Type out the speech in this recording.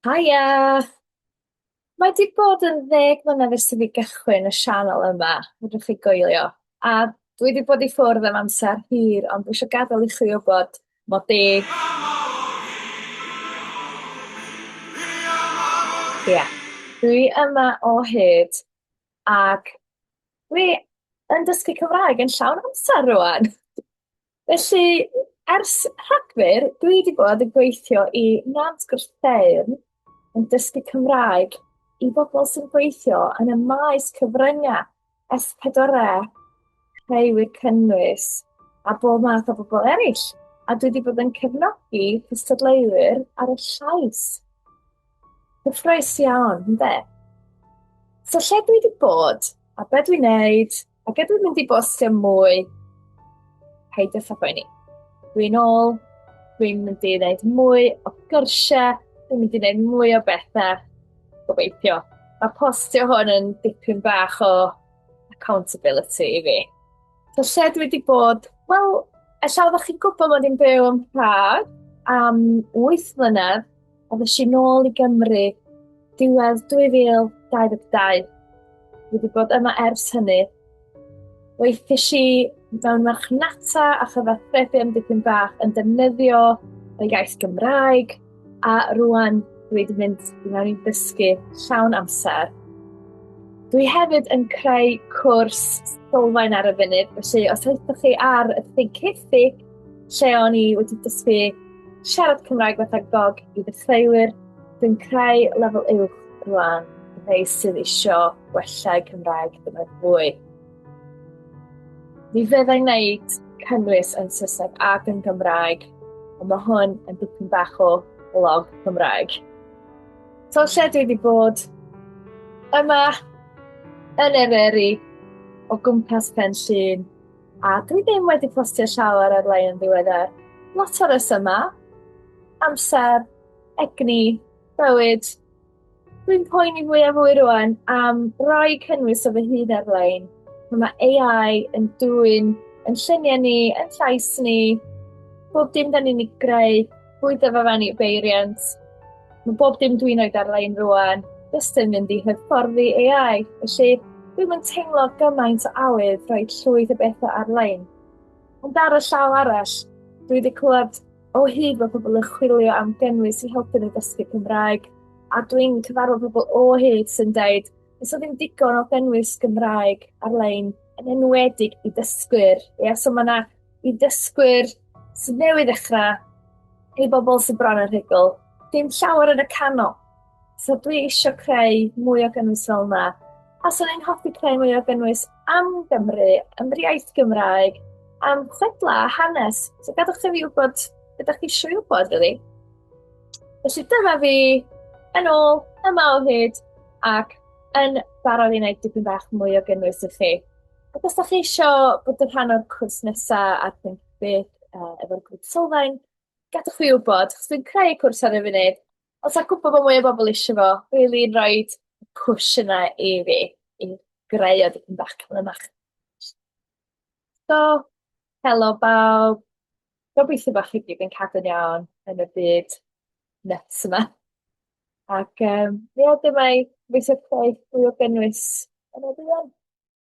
Haia! Mae di bod yn ddeg mlynedd ers i fi gychwyn y sianel yma, fedrwch chi goelio. A dwi di bod i ffwrdd am amser hir, ond dwi eisiau gadael i chi wybod mod i... Ia, dwi yma o hyd ac dwi yn dysgu Cymraeg yn llawn amser rŵan. Felly, ers Rhagfyr, dwi wedi bod yn gweithio i Nant Gwrtheyrn yn dysgu Cymraeg i bobl sy'n gweithio yn y maes cyfryngau S4C, rheiwyr cynnwys a bob math o bobl eraill. A dwi wedi bod yn cefnogi cystadleuwyr ar y llais. Cyffroes iawn, ynddo? So lle dwi wedi bod, a be dwi'n neud, A gyda'n mynd i bostio mwy, peidio ffo poeni. Dwi'n ôl, dwi'n mynd i wneud mwy o gyrsiau, dwi'n mynd i wneud mwy o bethau, gobeithio. Mae postio hwn yn dipyn bach o accountability i fi. So lle dwi wedi bod, wel, ella oeddech chi'n gwybod bod i'n byw yn Prague am 8 mlynedd, Ond ys i nôl i Gymru, diwedd 2022. Fi wedi bod yma ers hynny. Weithies i mewn marchnata a chyfathrebu am dipyn bach yn defnyddio y iaith Gymraeg a rwan dwi wedi mynd i mewn i ddysgu llawn amser. Dwi hefyd yn creu cwrs sylfaen ar y funud, felly os ydych chi ar y ffig ceithi lle o'n i wedi dysgu Siarad Cymraeg fatha gog i ddechreuwyr sy'n creu lefel uwch rwan neu sydd eisiau gwella'u Cymraeg dyfod fwy. Ni fyddai'n wneud cynnwys yn Saesneg ac yn Gymraeg, ond mae hwn yn dipyn bach o blog Cymraeg. So lle dwi wedi bod yma yn Eryri o gwmpas Pen Llun A dwi ddim wedi postio llawer ar lein yn ddiweddar. Lot o yma. Amser, egni, bywyd. Dwi'n poeni fwy a fwy rwan am roi cynnwys o fy hun ar lein. Mae AI yn dwy'n yn lluniau ni, yn llais ni, bob dim da ni'n ei greu Bwyd dyfarfennu beiriant. Mae bob dim dwi'n oed ar-lein rwan, jyst yn mynd i hyfforddi AI, felly dwi'n yn teimlo gymaint o awydd rhoi llwyth o bethau ar-lein. Ond ar y llaw arall, dwi wedi clywed o hyd bod pobl yn chwilio am gynnwys i helpu nhw dysgu Cymraeg, a dwi'n cyfarfod pobl o hyd sy'n dweud, nes o ddim digon o gynnwys Gymraeg ar-lein, yn enwedig i dysgwyr. Ie, so mae yna i ddysgwyr sydd newydd ddechrau, i bobl sydd bron yn rhugl, dim llawer yn y canol. So dwi eisiau creu mwy o gynnwys fel yna. A so ni'n hoffi creu mwy o gynnwys am Gymru, am yr iaith Gymraeg, am chwedla a hanes. So gadwch chi fi wybod beth ydych chi eisiau wybod, really. Felly dyma fi yn ôl, yma o hyd, ac yn barod i wneud dipyn bach mwy o gynnwys i chi. Ac os ydych chi eisiau bod yn rhan o'r cwrs nesaf ar Think Big uh, efo'r grŵp sylfaen, gadwch fi wybod, chos dwi'n creu cwrs ar y funud. Os a gwybod bod mwy o bobl eisiau fo, bydd i'n rhoi push yna i fi, i greu o dipyn bach cymryd So, helo bawb. Gobeithio bach chi gyd yn cadw'n iawn yn y byd nuts yma. Ac um, ie, dyma i gobeithio creu fwy o gynnwys yn y byd.